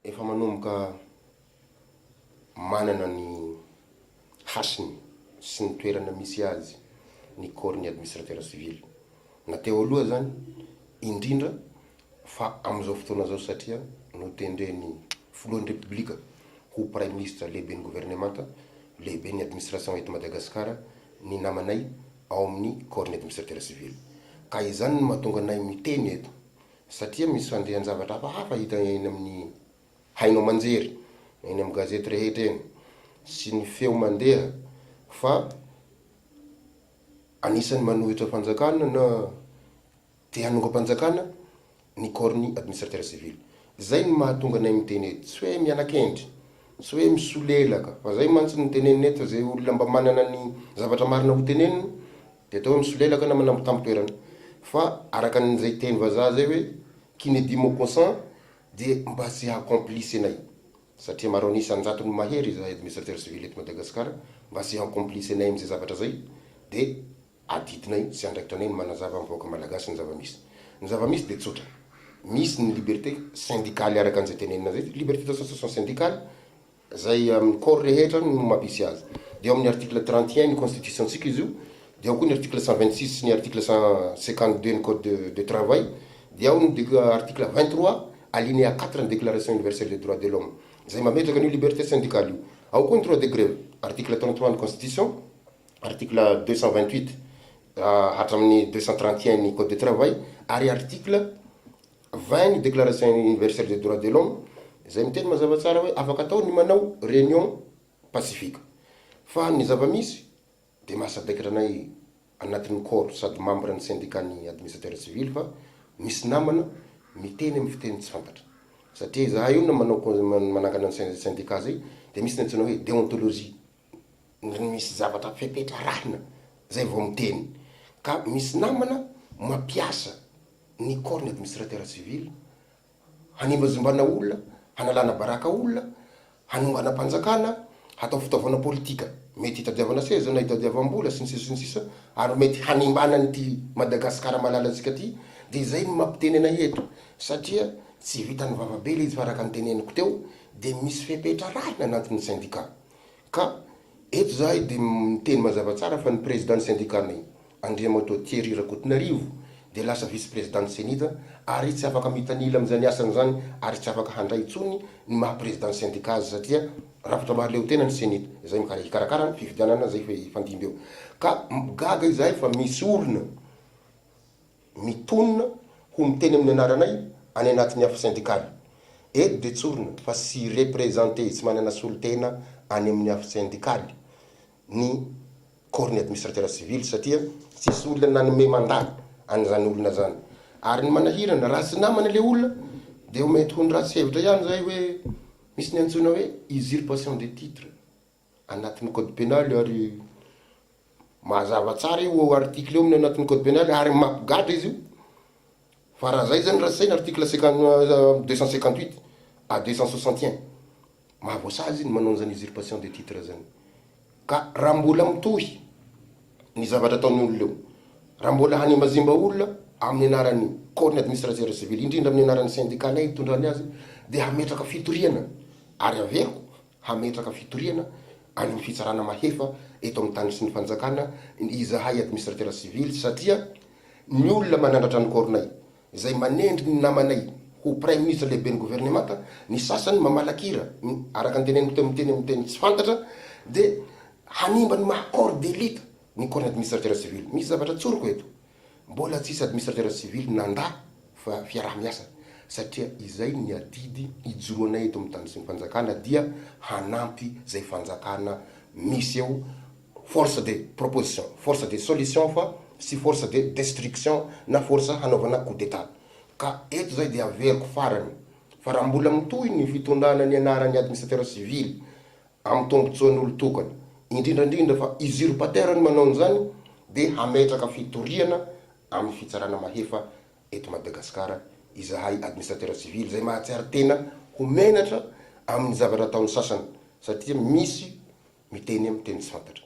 Efa manomboka manana ny hasiny sy ny toerana misy azy ny corps ny administrateur civil na teo aloha azany indrindra fa amin'izao fotoana izao satria notendren'ny filohan'ny repoblika ho praiminisitra lehiben'ny governemanta lehiben'ny administration eto Madagasikara ny namanay ao amin'ny corps ny administrateur civil ka izany no mahatonga anay miteny eto satria misy fandehan-javatra hafahafa hita eny amin'ny haino aman-jery, eny amin'ny gazety rehetra eny, sy ny feo mandeha fa anisan'ny manohitra fanjakana na te hanongam-panjakana ny corps-n'ny administrateur civil. Izay no mahatonga anay miteny eto, tsy hoe miana-kendry, tsy hoe misolelaka, fa izay mantsy no tenenina eto fa izay olona mba manana ny zavatra marina hotenenina, Dia atao hoe misolelaka na manambo tampon-toerana. Fa araka an'izay teny vazaha izay hoe qui ne dit mot consent dia mba tsy haha-complice anay satria maro an'isa an-jatony mahery izahay administrateur civil eto Madagasikara mba tsy haha-complice anay amin'izay zavatra izay dia adidinay sy andraikitra anay ny manazava amin'ny vahoaka Malagasy ny zava-misy. Ny zava-misy dia tsotra. Misy ny liberté syndicale araka an'izay tenenina izay, liberté d'association syndicale, izay amin'ny corps rehetra no mampisy azy, dia ao amin'ny article trente et un ny constitution-tsika izy io, dia ao koa ny article cent vingt six sy ny article cent cinquante deux ny code de de travail, dia ao ny dec article vingt trois alinéa quatre ny déclaration universelle des droits de l'homme izay mametraka an'io liberté syndicale io, ao koa ny droit de grève, article trente trois ny constitution, article deux cent vingt huit hatramin'ny deux cent trente et un ny code de travail ary article. 20 ny Déclaration Universelle des Droits de l'Homme izay miteny mazava tsara hoe afaka atao ny manao réunion pacifique fa ny zava-misy dia maha sadaikatra anay anatin'ny corps sady membre ny syndicat ny administrateur civil fa misy namana miteny amin'ny fiteny tsy fantatra satria izahay olona manao manangana ny syndicat zay dia misy ny antsoina hoe déontologie ry misy zavatra fepetra arahina zay vao miteny ka misy namana mampiasa ny corps ny administrateur civil hanimbazimbana olona hanalana baraka olona hanongana mpanjakana hatao fitaovana politika mety hitadiavana seza na hitadiavam-bola sy ny sisa sy ny sisa ary mety hanimbana an'ity Madagascar malalantsika ty dia zay no mampiteny anay eto satria tsy vitan'ny vava be le izy fa araka ny teneniko teo dia misy fepetra arahina anatiny syndicat Ka eto zahay dia miteny mazava tsara fa ny Prezidan'ny Sendikanay, Andriamatoa Thierry Rakotonarivo, dia lasa Vice-Prezidan'ny Cenida ary tsy afaka mitanila amin'izany asany izany ary tsy afaka handray intsony ny maha Prezidan'ny Sendika azy satria rafitra mahaleotena ny Cenida izay hikarakara ny fifidianana izay hifandimby eo. Ka gaga izahay fa misy olona. mitonona ho miteny amin'ny anaranay any anatin'ny afo sendikaly. Eto dia tsorina fa tsy representer, tsy manana solontena any amin'ny afo sendikaly ny corps-n'ny administrateur civil satria tsisy olona nanome mandat an'izany olona izany. Ary ny manahirana, raha tsy namana ilay olona dia ho mety ho ny ratsy hevitra ihany izay hoe misy ny antsoina hoe usurpation de titre. anatin'ny code pénal io ary mazava tsara io article io amin'ny anatin'ny code pénal ary mampigadra izy io fa raha zay zany raha saina article cinquante deux cent cinquante huit à deux cent soixante et un mahavoasazy izy ny manao an'izany usurpation de titre zany ka raha mbola mitohy ny zavatra ataon'ny olona eo raha mbola hanemazimba olona amin'ny anaran'ny corps-ny administrateur civil indrindra amin'ny anaran'ny syndicat-nay itondrany azy dia hametraka fitoriana ary averiko hametraka fitoriana any amin'ny fitsarana mahefa eto amin'ny tany sy ny fanjakana ny izahay administratera sivily satria ny olona manandratra ny kôronay izay manendry ny namanay ho praiminisitra lehiben'ny governemanta ny sasany mamalakira ny araka ny teneniko teo miteny amin'ny teny tsy fantatra dia hanimba ny maha corps d'élite ny corps-ny administratera sivily misy zavatra tsoriko eto Mbola tsisy administrateur civil nanda fa fiaraha-miasa satria izay ny adidy ijoroanay eto amin'ny tany sy ny fanjakana dia hanampy izay fanjakana misy eo force de proposition, force de solution fa tsy force de destruction na force hanaovana coup d'etat ka eto izay dia averiko farany fa raha mbola mitohy ny fitondrana nianaran'ny administrateur civil amin'ny tombotsoan'olon-tokana, indrindra indrindra fa usurpateur ny manao an'izany dia hametraka fitoriana amin'ny fitsarana mahefa eto Madagasikara izahay administrateur civil izay mahatsiaro tena ho menatra amin'ny zavatra ataon'ny sasany satria misy miteny amin'ny teny tsy fantatra.